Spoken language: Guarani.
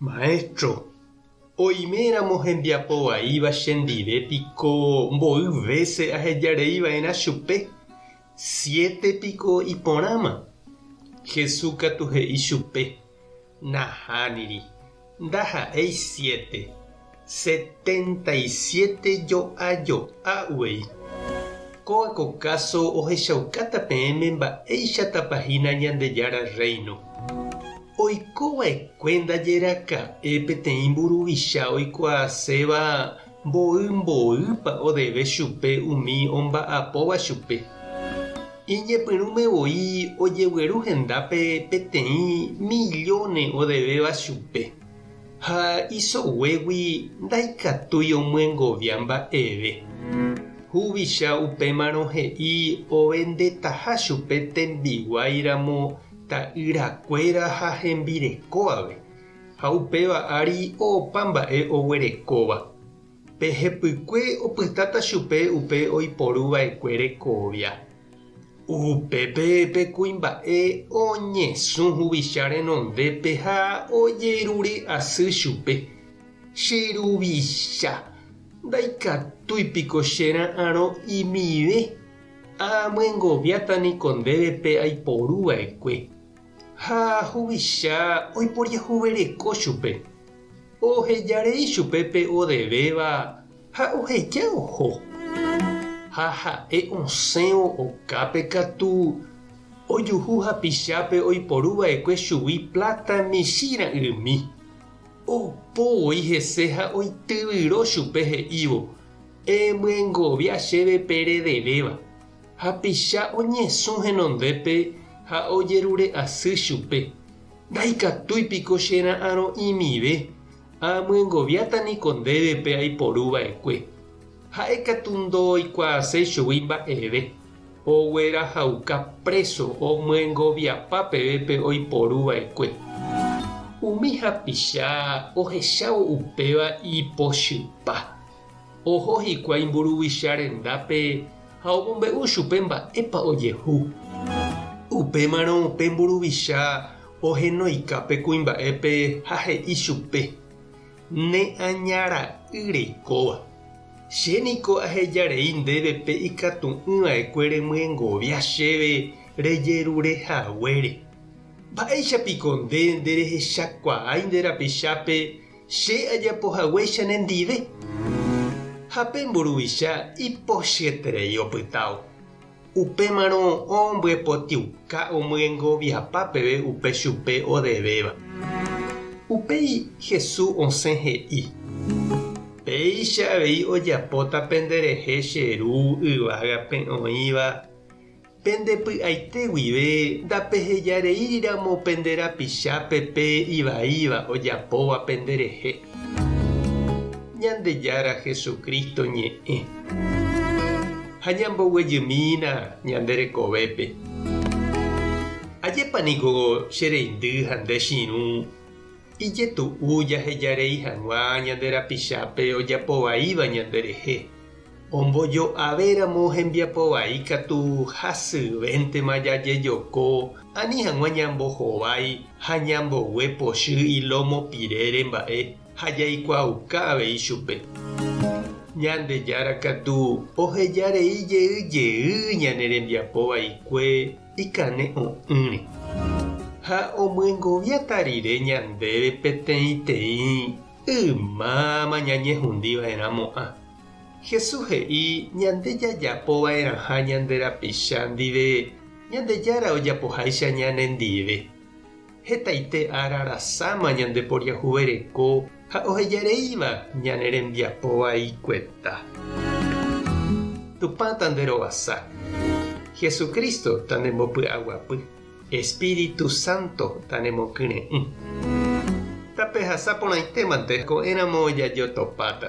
Maestro, oime ramo hembiapo vaíva chendive piko mboy vése ahejarei va'erã chupe, siete piko iporãma? Jesús katu he'i chupe, Nahániri, ndaha'éi siete, Setenta y siete jo'ajo'a uvei. Kóva ko káso ohechaukáta peẽme mba'éichatapa hína Ñandejára Rréino. Oiko va'ekue ndajeraka'e peteĩ mburuvicha oikuaaséva mboy mboýpa odeve chupe umi omba'apóva chupe. Iñepyrũme voi ojegueru hendápe peteĩ millóne odevéva chupe. Ha isoguégui ndaikatúi omyengovia mba'eve. Huvicha upémarõ he'i ovendetaha chupe tembiguái ramo ta'ýra kuéra ha hembireko ave, ha upéva ári opa mba'e oguerekóva. Pe hepykue opytáta chupe upe oiporu vaekue rekovia. Upépe pe kuimba'e oñesũ huvicha renondépe ha ojerure asy chupe, Che ruvicha, ndaikatúi piko che ra'arõ imive? Aamyengoviáta niko ndéve pe aiporu vaekue. Ha huvicha oiporiahuvereko chupe, oheja rei chupe pe odevéva ha oheja oho. Ha ha'e osẽvo okápe katu, ojuhu hapichápe oiporu vaekue chugui pláta michĩ ra'ymi. Opo voi hese ha oityvyro chupe he'ívo, Emyengovia chéve pe redevéva. Hapicha oñesũ henondépe ha ojerure asy chupe, Ndaikatúi piko che ra'arõ'imive, aamyengoviáta niko ndéve pe aiporu vaekue. Ha'e katu ndooikuaaséi chugui mba'eve, oguerahauka préso omyengoviapa peve pe oiporu vaekue. Umi hapicha ohechávo upéva ipochypa, Oho hikuái mburuvicha rendápe ha omombe'u chupe mba'épa ojehu. Upémarõ pe mburuvicha ohenoika pe kuimba'épe ha he'i chupe, Ne aña ra'y reikóva, che niko aheja rei ndéve pe ikatu'ỹ va'ekue remyengovia chéve rejerure haguére. Mba'éicha piko nde nderehechakuaái nde rapichápe Che ajapo haguéicha nendive. Ha pe mburuvicha ipochyeterei opytávo. Upémarõ ombyepotĩuka omyengoviapa peve upe chupe odevéva. Upéi Hesu osẽ he'i, Péicha avei ojapóta penderehe che Ru yvágape oĩva. Pende py'aite guive ndapehejareíriramo pende rapichápe pe ivaíva ojapóva penderehe. Ñandejára Jesucristo ñe'ẽ. Ha ñamboguejymína ñande rekovépe. Ajépa niko che reindy ha nde chirũ ijetu'u jahejarei hag̃ua ñande rapichápe ojapovaíva ñanderehe. Ombojo'ave ramo hembiapo vai katu hasyvéntema jajejoko ani hag̃ua ñambohovái ha ñambogue pochy ilómo pirére mba'e ha jaikuaauka avei chupe. Ñandejára katu oheja rei jey jey ñane rembiapo vaikue ikane'õ'ỹre. Ha omyengoviata rire ñandéve peteĩteĩ Ymáma ñañehundi va'erã mo'ã. Jesús he'i ñande jajapo va'erãha ñande rapicha ndive Ñandejára ojapoháicha ñanendive. Hetaite ára rasãma ñandeporiahuvereko ha ohejareíva ñane rembiapo vaikueta. Tupã tanderovasa. Jesucristo tandembopy'aguapy. Espíritu sánto nanemokyre'ỹ. Tapehasa porãitémante, ko'ẽramo jajotopáta.